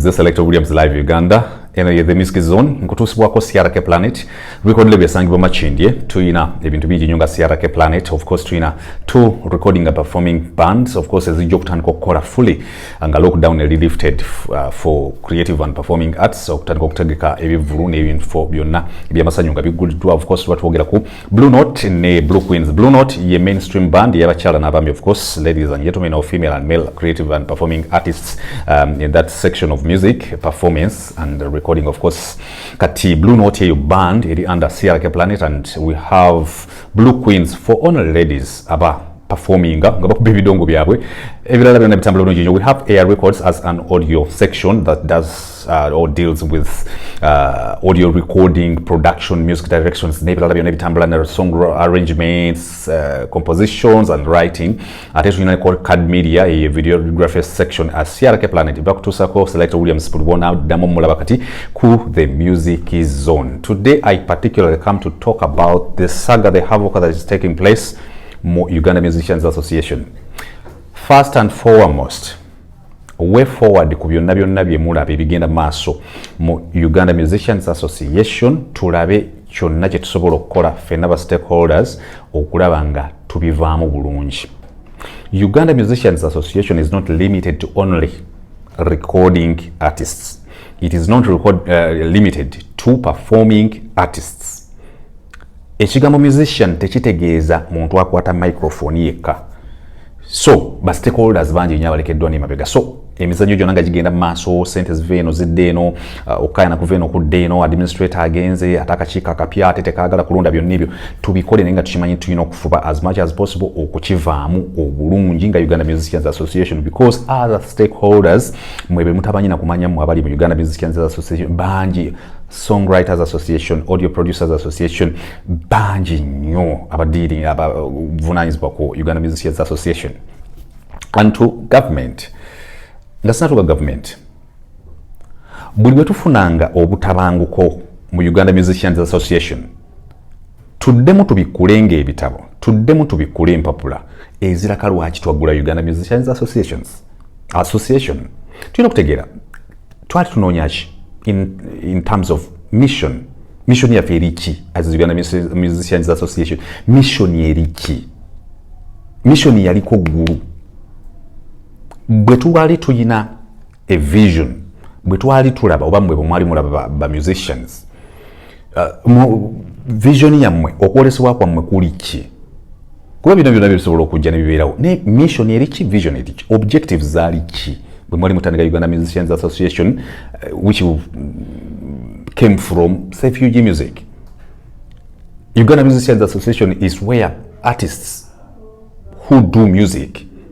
The Selector Williams Live Uganda eno ye the music zone nkutuusibwako crk planet record label esangibwa makindye tuyina ebintu bingi nyo nga crk planet of course tuyina two recording and performing bands of course ezijja okutandika okukola fully nga lockdown eli lifted uh, for creative and performing arts okutandika okutegeka ebivulu n'ebintu byonna ebyamasanyu nga bigguliddwa of course tuba twogera ku blue note ne blue queens blue note ye mainstream band yabakyala n'abaami of course ladies and gentlemen of female and male creative and performing artists um, in that section of music performance and recording of course kati blue note eyo band eri under crk planet and we have blue queens for only ladies aba performinga nga bakuba ebidongo byabwe ebirala byona bitambula bulungi nyo we have air records as an audio section that does uh, or deals with uh, audio recording production music directions n'ebirala byona ebitambula ne song arrangements uh, compositions and writing ate tulina called card media eye videography section as crk planet bakutuusako select williams pulibona ddamu mulaba kati ku the music zone today i particularly come to talk about the saga the havoc that is taking place mu Uganda Musicians Association first and foremost way forward ku byonna byonna bye mulaba ebigenda maaso mu Uganda Musicians Association tulabe kyonna kye tusobola okukola ffenna ba stakeholders okulaba nga tubivaamu bulungi Uganda Musicians Association is not limited to only recording artists it is not record, uh, limited to performing artists ekigambo musician tekitegeeza muntu akwata microphone yekka so ba stakeholders bangi nnyo abalekeddwa n'emabega so emizannyo gyonna nga gigenda mu maaso sente ziva eno zidda eno uh, okukayana kuva eno kudda eno administrator agenze ate akakiiko akapya ate tekaagala kulonda byonna ebyo tubikole naye nga tukimanyi tulina okufuba as much as possible okukivaamu obulungi nga uganda musicians association because other stakeholders mwebe mutabanyina kumanya mwe abali mu uganda musicians association bangi songwriters association audio producers association bangi nnyo abadiiringa abavunanyizibwa ku uganda musicians association and to government nga sinatuka government buli bwetufunanga obutabanguko mu uganda musicians association tuddemu tubikkule ng'ebitabo tuddemu tubikkule empapula eziraka lwaki twaggula uganda musicians associations association tulina okutegeera twali tunoonya ki in, in terms of mission mission yaffe eri ki as uganda musicians association mission eri ki mission yaliko ggulu bwe tubali tulina a vision bwe twali tulaba oba mwe bwemwali mulaba ba musicians uh, vision yammwe okwolesebwa kwammwe kuli ki kuba bino byona byebisobola okujja nebibeerawo naye mission eri ki vision eri ki objectives zaali ki bwe mwali mutandika uganda musicians association uh, which mm, came from safug music uganda musicians association is where artists who do music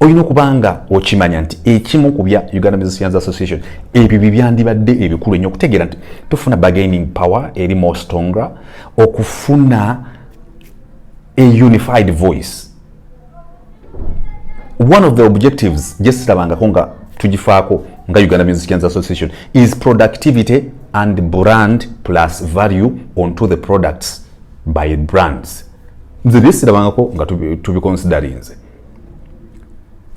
olina okuba nga okimanya nti ekimu ku bya uganda musicians association ebyo bye byandibadde ebikulu ennyo okutegeera nti tufuna bargaining power eri more stronger okufuna a unified voice one of the objectives gyesirabangako nga tugifaako nga uganda musicians association is productivity and brand plus value onto the products by brands nze byesirabangako nga tubikonsidarinze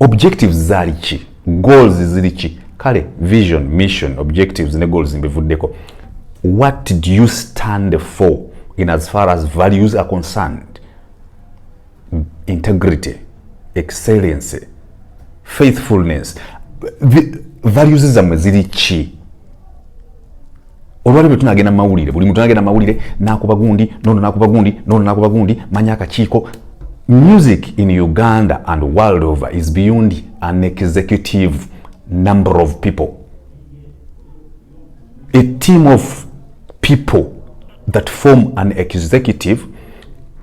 objectives zaali ki goals ziri ki kale vision mission objectives ne goals mbivuddeko what do you stand for in as far as values are concerned integrity excellency faithfulness values zammwe ziri ki olwaliro tunagenda mumawulire buli muntu anagenda mumawulire nakuba gundi nono nakuba gundi nono nakuba gundi manya akakiiko music in uganda and world over is beyond an executive number of people a team of people that form an executive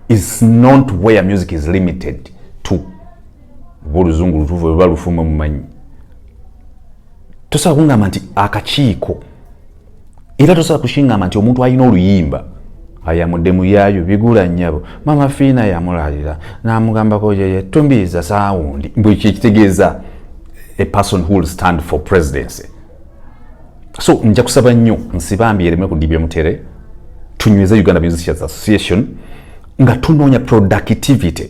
is not where music is limited oba oluzungu lutuufu oba lufumwe mumanyi tosobola kungamba nti akakiiko era tosobola kushingamba nti omuntu alina oluyimba ayamudde muyaayo bigula nyabo mama fiina yamulalira namugambako yeye tumbiiza saawundi mbu ekyo ekitegeeza a person who will stand for presidency so nja kusaba nnyo nsibambi ereme kudibya mutere tunyweza uganda musicians association nga tunoonya productivity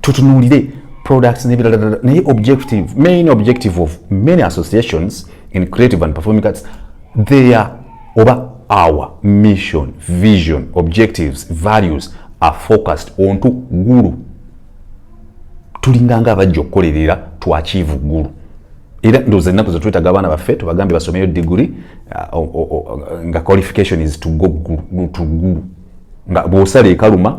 tutunulire products n'ebirala naye objective main objective of many associations in creative and performing arts their oba our mission vision objectives values are focused on to gulu tulinganga abajja okukolerera twakiivu gulu era ndowooza ennaku zetwetaga abaana baffe tubagambye basomeyo digiri uh, uh, uh, nga qualification is to go gulu nga bwosala ekaluma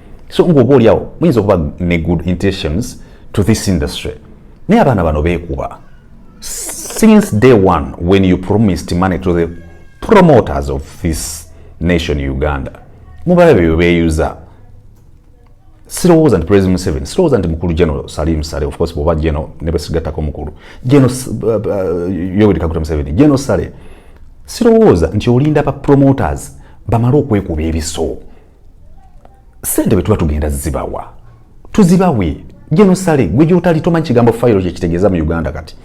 so ng'oba oliawo muyinza okuba ne good intentions to this industry naye abaana bano beekuba since day one when you promised money to the promoters of this nation uganda mubala bebyo beyuza sirowooza nti president museven sirowooza nti mukulu general salim sale of course bwoba geno nebasigattako mukulu geno uh, uh, yoweri kaguta museveni geno sale sirowooza nti olinda ba promoters bamale okwekuba ebiso sente bwetuba tugenda zibawa tuzibawe genosale gwe gyotali tomanyi kigambo fayiro kyekitegeeza mu uganda kati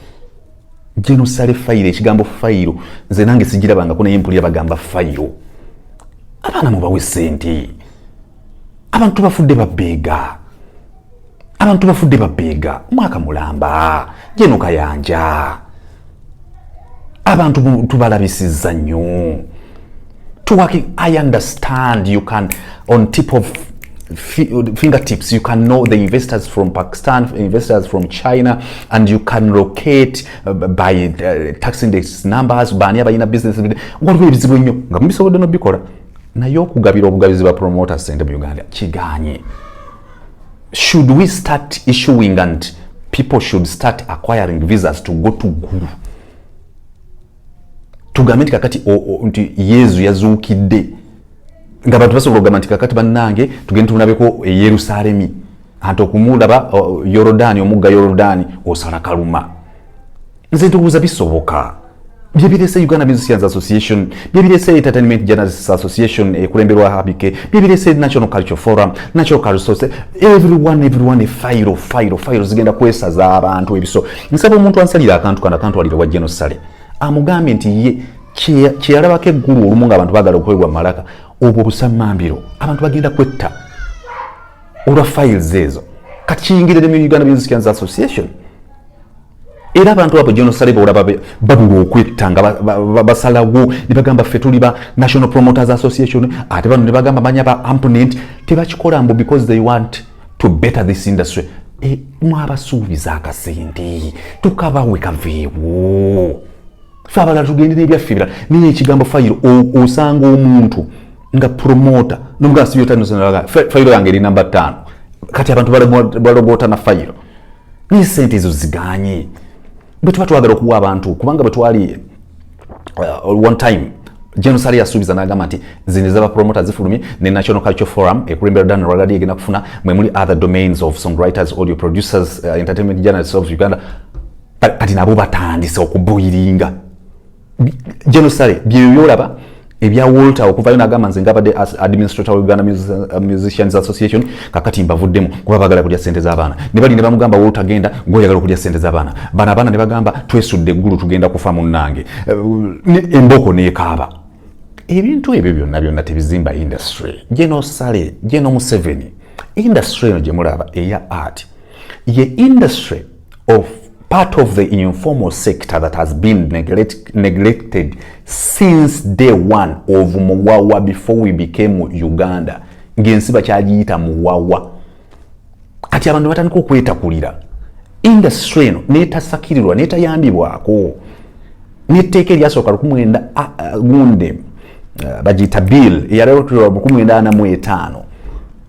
genosale fayiro ekigambo fayiro nze nange sigirabangako naye mpulira bagamba fayiro abaana mubawe sente abantu bafudde babeega abantu bafudde babbeega mwaka mulamba jeno kayanja abantu tubalabisizza nnyo tuwaki i understand you can on tip of fingertips you can know the investors from pakistan investors from china and you can locate uh, by uh, tax index numbers baani abalina business waliwo ebizibu ennyo nga mubisobodde nobikola naye okugabira obugabizi ba promoter sente mu uganda kiganye should we start issuing and people should start acquiring visas to go to gulu tugambe nti kakati nti yezu yazuukidde nga bantu basobola okugamba nti kakati bannange tugende tumulabeko e yerusalemi anti okumulaba yorodani omugga yorodani osala kaluma nze ndowooza bisoboka byebirese uganda musicians association byebirese entertainment journalists association ekulemberwa eh, habike byebirese national culture forum national culture everyone everyone file file file zigenda kwesaza abantu ebiso nsaba omuntu ansalira akantu kana kantu alira wa genocide amugambe nti ye kyeyalabako eggulu olumu nga abantu bagala okuwebwa malaka obwo busamambiro abantu bagenda kwetta olwa files ezo kati kiyingirire mu uganda musicians association era abantu abo jonosale beolaba babula okwetta nga basalawo ne bagamba ffe tuli ba national promoters association ate bano ne bagamba manya ba amponent tebakikola mbu because they want to better this industry e, mwabasuubiza akasente tukabawe kaveewo fe abalala tugende nebyaffe ebirala naye ekigambo fayiro osanga omuntu nga promota nomugamba sibyotanfayiro yange eri namba ttaano kati abantu balogota na fayiro naye sente ezo ziganye bwetuba twagala okuwa abantu kubanga bwetwali uh, one time jenosali yasuubiza nagamba nti zino ezaba promota zifulumye ne national culture forum ekulembera dan ragadi egenda kufuna mwemuli other domains of songwriters audio producers uh, entertainment journalists of uganda kati nabo batandise okubuiringa genosale byebyo byolaba ebya walter okuvayo nagamba nze ngabadde administrator uganda uh, musicians association kakati mbavuddemu kuba bagala kulya sente zabaana nebali nebamugamba walter genda gwoyagala okulya sente zabaana bana abaana nebagamba twesudde eggulu tugenda kufa munnange uh, emboko nekaaba ebintu ebyo byonna byonna tebizimba industry genosale genomuseveni industry eno gyemulaba eya art ye industry of part of the informal sector that has been neglect, neglected since day one of muwawa before we became uganda ngensi bakyagiyita muwawa kati abantu batandika okwetakulira industry eno netasakirirwa netayambibwako netteeka eryasooka lukumwenda gunde bagiyita bill eyaleotirwa lukumwenda ana mu etaano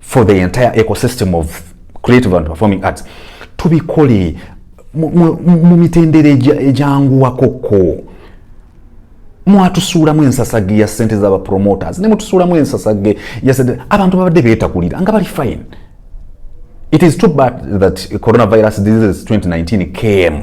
for the entire ecosystem of creative and performing arts tubikole mu mitendera egyanguwakoko mwatusuulamu ensasage ya sente zaba promoters ne mutusuulamu ensasage ya sente abantu babadde beetakulira nga bali fine it is too bad that coronavirus disease 2019 came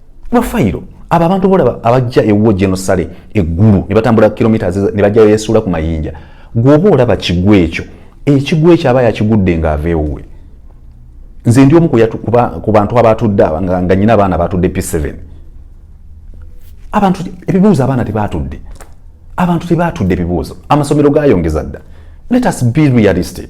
bafayiro abo abantu bolaba abajja ewuwo genosale eggulu ne batambula kilometres ne bajjayo yesuula ku mayinja gwoba olaba kigwa ekyo ekigwa ekyo aba yakigudde ng'ava ewuwe nze ndi omu ku bantu abatudde nga nyina abaana batudde p7 abantu ebibuuzo abaana tebatudde abantu tebatudde ebibuuzo amasomero gayongeza dda let us be realistic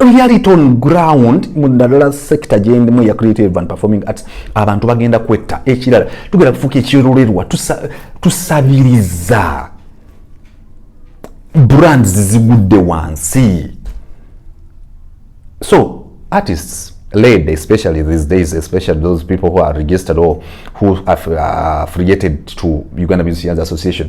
reality on ground mu ddala sector gyendimu eya creative and performing arts abantu bagenda kwetta ekirala tugenda kufuuka ekirulerwa tusabiriza brands zigudde wansi so artists led especially these days especially those people who are registered or who have uh, affiliated to uganda musicians association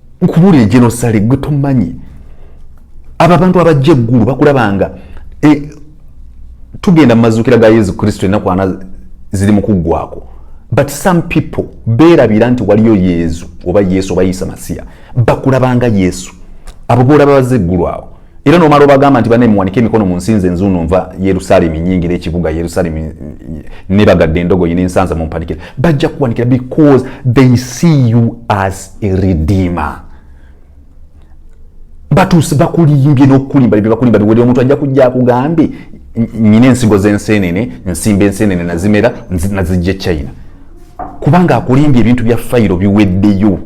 nkubuulire genosale gwe tomanyi abo abantu abajja eggulu bakulabanga e, tugenda mu mazuukira ga yesu kristo ennaku ana ziri mu kuggwako but some people beerabira nti waliyo yesu oba yesu oba yisa masiya bakulabanga yesu abo boolaba baze eggulu awo era nomala obagamba nti bane muwanike emikono mu nsinze nzuuno nva yerusalemi nyingira ekibuga yerusalemi nebagadde endogoyi nensanza mumpanikira bajja kuwanikira because they see you as a redeemer batuuse bakulimbye nokukulimba byebakulimba biwere omuntu ajja kujja akugambye nyina ensigo zensenene nsimba ensenene nazimera nazijja e china kubanga akulimbye ebintu bya fayiro biweddeyo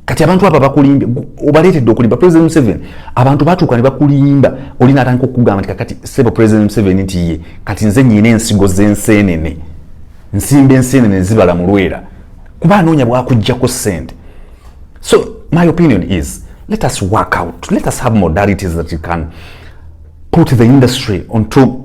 kati abantu abo bakulimbye obaleetedde okulimba president museven abantu batuuka ne bakulimba oli naatandika okukugamba nti kakati sebo president museven nti ye kati nze nyina ensigo z'enseenene nsimba enseenene zibala mu lwera kuba anoonya bwakuggyako ssente so my opinion is let us work out let us have modalities that you can put the industry onto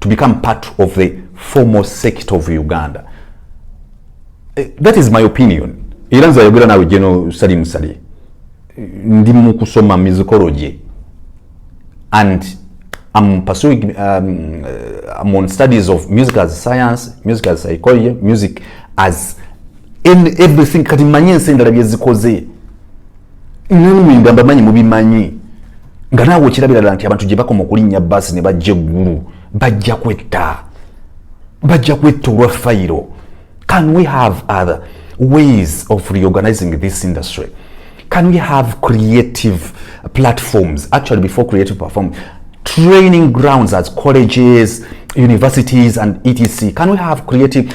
to become part of the formal sect of uganda eh, that is my opinion era nze ayogera nawe jeno sali musali ndi mu kusoma musicology and am pursuing um, uh, I'm on studies of music as science music as psychology music as in everything kati manye ensi endala byezikoze nanumuyuga mbamanyi mubimanyi nga naawe okirabira dala nti abantu gye bakoma okulinnya baasi ne bajja eggulu bajja kwetta bajja kwetta olwa fayiro can we have other ways of reorganizing this industry can we have creative platforms actually before creative perform training grounds as colleges universities and etc can we have creative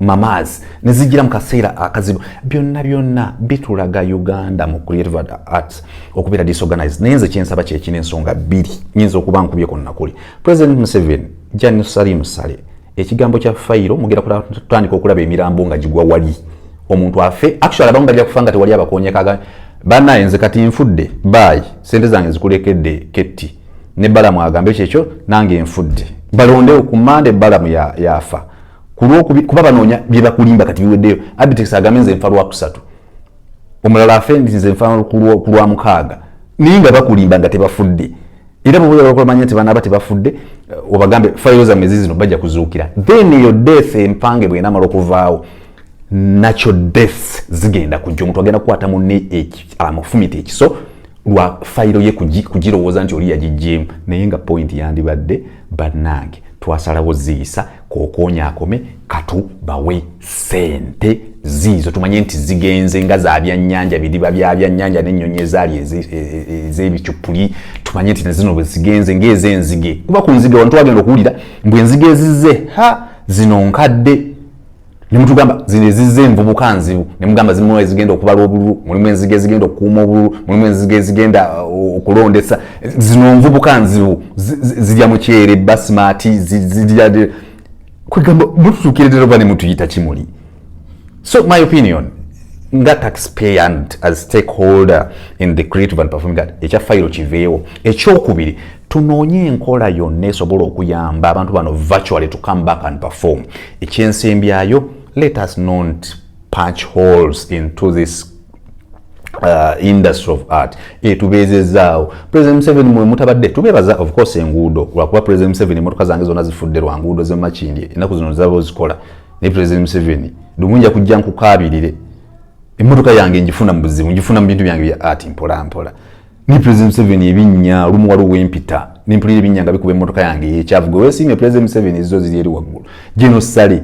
mamaz ne zijira mu kaseera akazibu byonna byonna bitulaga uganda mu creative arts okubeera disorganized naye nze kyensaba kyekina ensonga bbiri nyinza okuba nkubye konnakuli president museveni jani sali musale ekigambo kya fayiro mugera kutandika okulaba emirambo nga gigwa wali omuntu afe actually abamu bajja kufa nga tewali abakonyekaga banaye nze kati nfudde baayi sente zange nzikulekedde ketti ne balamu agambe kyekyo nange nfudde balondewo ku mande balamu yafa ya kulwokubi kuba banoonya byebakulimba kati biweddeyo abitex agambe nze nfa lwakusatu omulala afe ndi nze nfa kulwa mukaaga naye nga bakulimba nga tebafudde era bwoba oyagala okumanya nti banaaba tebafudde eh, obagambe fayiro zammwe zizino bajja kuzuukira then eyo death empange bwenamala okuvaawo nakyo death zigenda kujja omuntu agenda kukwata munne amufumita ekiso lwa fayiro ye kugirowooza nti oli yagijjeemu naye nga point yandibadde bannange twasalawo ziyisa kokonya akome katu bawe sente ziizo tumanye nti zigenze nga za byannyanja bidiba bya byannyanja n'ennyonyi ezaali ez'ebicuppuli e, e, tumanye nti nazino bwe zigenze ng'ez'enzige kuba ku nzige wantu wagenda okuwulira mbu enzige ezize ha zino nkadde ne mutugamba zino ezizza envubuka nzibu ne mugamba zimu ezigenda okubala obululu mulimu enzige ezigenda okukuuma obululu mulimu enzige ezigenda uh, okulondesa zino nvubuka nzibu zirya mukyere basimati zirya kwegamba mututukiredera oba ne mutuyita kimuli so my opinion nga taxpayer and as stakeholder in the creative and performing art ekya fayiro kiveewo ekyokubiri tunoonye enkola yonna esobola okuyamba abantu bano virtually to come back and perform ekyensembyayo let us not punch holes into this Uh, industry of art etubeezezaawo president museveni mwe mutabadde tubeebaza of course enguudo lwakuba president museveni emotoka zange zonna zifudde lwa nguudo zemakindye ennaku zino zaba ozikola ne president museveni lumu nja kujja nkukaabirire emotoka yange njifuna mu buzibu njifuna mu bintu byange bya art mpolampola ni president Museveni ebinnya olumu waliwo wempita nempulira ebinnya nga bikuba emmotoka yange eyekyavu gwe wesiimye president Museveni ezizo ziri eri waggulu geno sale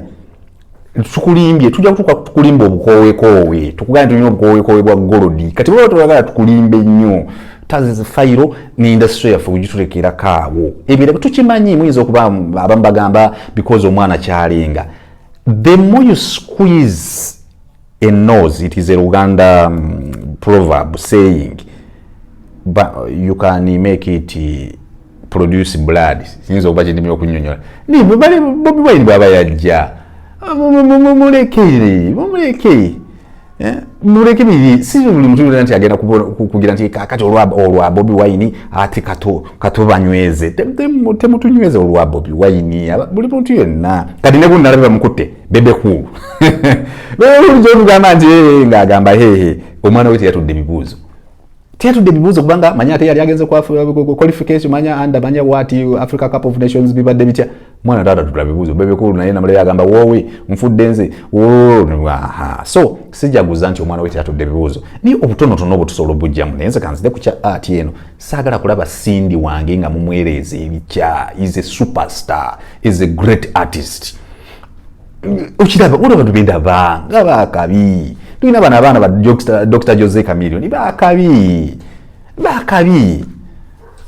tukulimbye tujja kutuuka tukulimba obukoowekoowe tukugane tulina obukoowekoowe bwa golodi kati baba tebagala tukulimbe nnyo tazi fayiro ne indasitry yaffe kugitulekerako awo ebirabo tukimanyi muyinza okuba abamu bagamba because omwana kyalenga the more you squeeze a nose it is a luganda um, proverb saying but you can make it uh, produce blood sinza okuba kyendimi okunyonyola naye bwebale bobi wine bwaba yajja mumulekere mumulekere eh? muleke biri si buli mutu yona nti agenda kugira nti kakati olwa bobi wine ati katubanyweze temutunyweze olwa bobi wine buli muntu yonna kati nebunalabe bamukutte bebe kuulu olujogamba nti eh, ngaagamba hehe omwana we teyatudde bibuuzo teyatudde bibuuzo kubanga manya ate yali agenze qualification manya anda manya wat africa cup of nations bibadde bitya mwana taata tutula bibuuzo bebe kuulu naye namulere agamba woowe nfudde nze so sijaguza nti omwana we teyatudde bibuuzo naye obutonotono obutusobola obujjamu naye nze kanzide ku kya art eno saagala kulaba sindi wange nga mumwereeza ebikya is a superstar is a great artist okiraba olaba tugenda ba nga bakabi tulina bana abaana ba dr jose camilion bakabi bakabi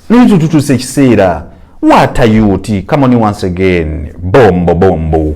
naye tututusa ekiseera what are you ti come on once again bombo bombo